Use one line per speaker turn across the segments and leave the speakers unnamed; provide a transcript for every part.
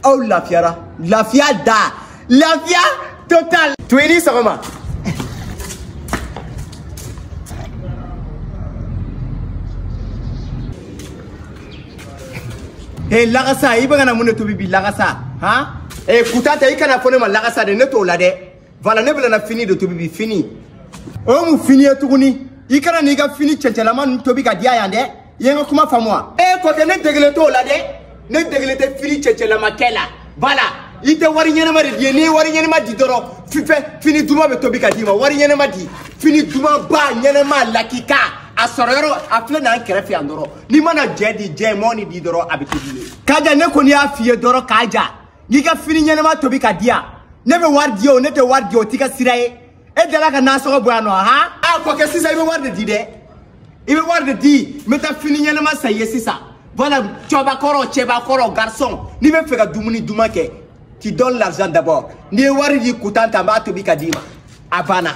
aw lafiyara lafiya da lafiya total to i ni sɔgɔma he lagasa i bɛ ka na mun de tobi bi lagasa han ee kutanta i kana fɔ ne ma lagasa dɛ ne t'o la dɛ Voilà ne bɛna fini de tobi bi fini. O ye mun fini ye tuguni? I kana n'i ka fini cɛncɛlama ninnu tobi ka di a yan dɛ. I ye n ka kuma faamu wa? E ko tɛ ne degelen t'o la dɛ. Ne degelen tɛ fini cɛncɛlama kɛ la. Voilà. I tɛ wari ɲɛnɛma de di ye. N'i ye wari ɲɛnɛma di dɔrɔn fini duman bɛ tobi ka d'i ma. Wari ɲɛnɛma di. Fini dumanba ɲɛnɛma lakika. a sɔrɔ yɔrɔ a filɛ n'an kɛrɛfɛ yan dɔrɔn n'i mana jɛ di jɛ mɔni di dɔrɔn a bɛ tobi ye. kaja ne kɔni y'a f'i ye dɔrɔn kaja. n'i ka fini ɲɛnɛma tobi ka di yan ne bɛ wari di o ne tɛ wari di o t'i ka sira ye e delila ka nasɔngɔ bɔ yan nɔ han a kɔkɛ sisan i bɛ wari de di dɛ i bɛ wari de di n bɛ taa fini ɲɛnɛma san i ye sisan voilà cɛbakɔrɔ cɛbakɔrɔ garçon n'i bɛ fɛ ka dumuni duman kɛ tu donnes l'argent d'abord n'i ye wari di kutanta n b'a tobi ka d'i ma a banna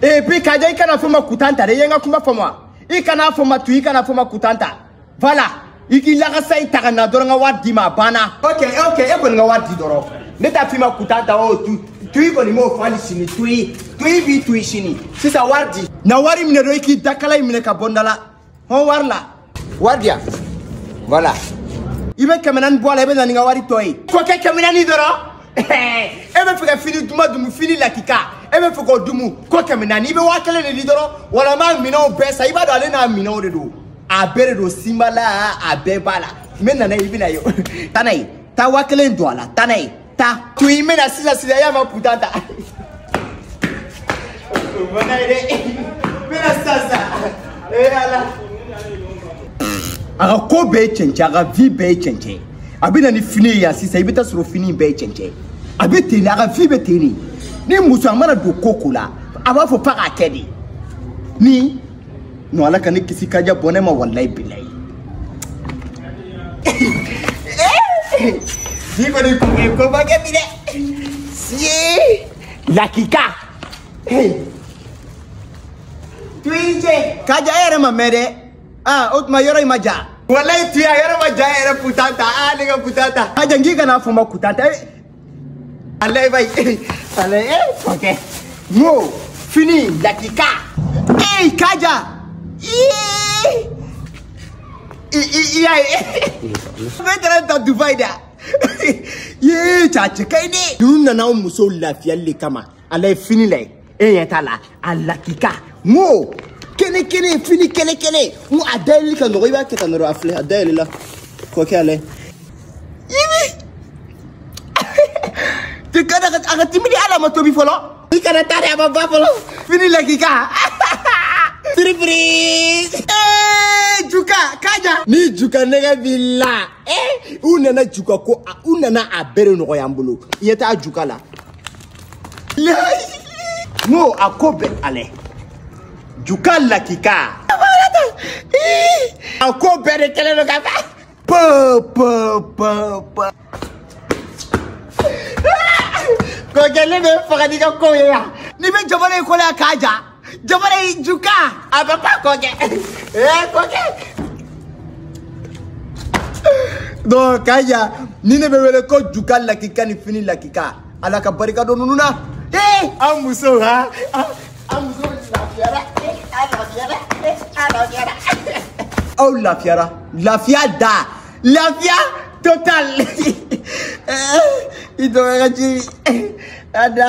et puis kaja i kana fɔ n ma kutanta dɛ i ye n ka kuma faamu wa i kana fɔ n ma tu i kana fɔ n ma kutanta voilà i k'i lagasa i ta ka na dɔrɔn ka wari d'i ma a banna ok ok e kɔni ka wari di dɔrɔn ne t'a f'i ma kutanta o tu tuyi kɔni m'o fɔ hali sini tuyi tuyi b'i tuyi sini sisan wari di na wari minɛ dɔrɔn i k'i dakala in minɛ ka bɔ n da la hɔn wari la wari di yan voilà i bɛ kɛmɛ naani bɔ a la i bɛ na ni n ka wari tɔ ye kɔkɛ kɛmɛ naani dɔrɔn e bɛ fɛ ka fini duman dumu fini lakika e bɛ fɛ k'o dumu ko kɛmɛ naani i bɛ waa kelen de di dɔrɔn wala n b'a minɛnw bɛɛ san i b'a dɔn ale n'a minɛnw de don a bɛɛ de don sinbala a bɛɛ b'a la n bɛ na n'a ye i bɛna ye taa n'a ye taa waa kelen don a la taa n'a ye taa tuyi n bɛna sisan sisan y'a ma kutanta o ma n'a ye dɛ n bɛna sisan sisan ee ala a ka ko bɛɛ ye cɛncɛn a ka vie bɛɛ ye cɛncɛn a bɛ na ni fini ye yan sisan i bɛ taa sɔrɔ fini in bɛɛ ye cɛncɛn a bɛ ten de a ka vie bɛ ten de ni muso a mana don ko ko la a b'a fɔ f'a k'a kɛ de ni non ala ka ne kisi kaja bɔ ne ma walayi bilayi si kɔni kun bɛ ko ba kɛ bi dɛ si lakika tuyice kaja e yɛrɛ ma mɛn dɛ aa o tuma yɔrɔ in man jan walayi tuyi a yɔrɔ man jan yɛrɛ kutanta aa ne ka kutanta kaja n k'i kana fɔ n ma kutanta Allez, vai. Allez, eh, ok. Mo, fini, lakika. Hey, kaja. Ih. Iya, bɛɛ taara ta Dubai da. Yee, cacɛ ka ɲi dɛ. Ninnu nana anw musow lafiyali de kama. allez fini lajɛ e ɲɛ t'a la a lakika n ko kɛnɛ kɛnɛ fini kɛnɛ kɛnɛ n ko a dayɛlɛli ka nɔgɔ i b'a kɛ tan dɔrɔn a filɛ a dayɛlɛla k'o kɛ a lajɛ yibi te kana ka a ka timi dɛ a ma tobi fɔlɔ i kana taa dɛ a ma ban fɔlɔ fini lakika surprise ee juka k'a ja ni juka nɛgɛ b'i la ee u nana juka ko u nana a bɛrɛ nɔgɔya n bolo i ye taa juka la n ko a ko bɛɛ allez juka lakika a ko bɛɛ de kɛlen don ka ban pa pa pa pa ko kɛlen bɛ fagali ka kow ye yan n'i bɛ jamana in kɔnɔ yan k'a ja jabara y'i juka a bɛ ba kɔ kɛ ee kɔ kɛ donc k'a ja nin de bɛ wele ko juka lakika ni fini lakika ala ka barika don ninnu na ee an musow ha an musow lafiyara a lafiyara a lafiyara aw lafiyara lafiya da lafiya total i dɔgɔya ka jiri a da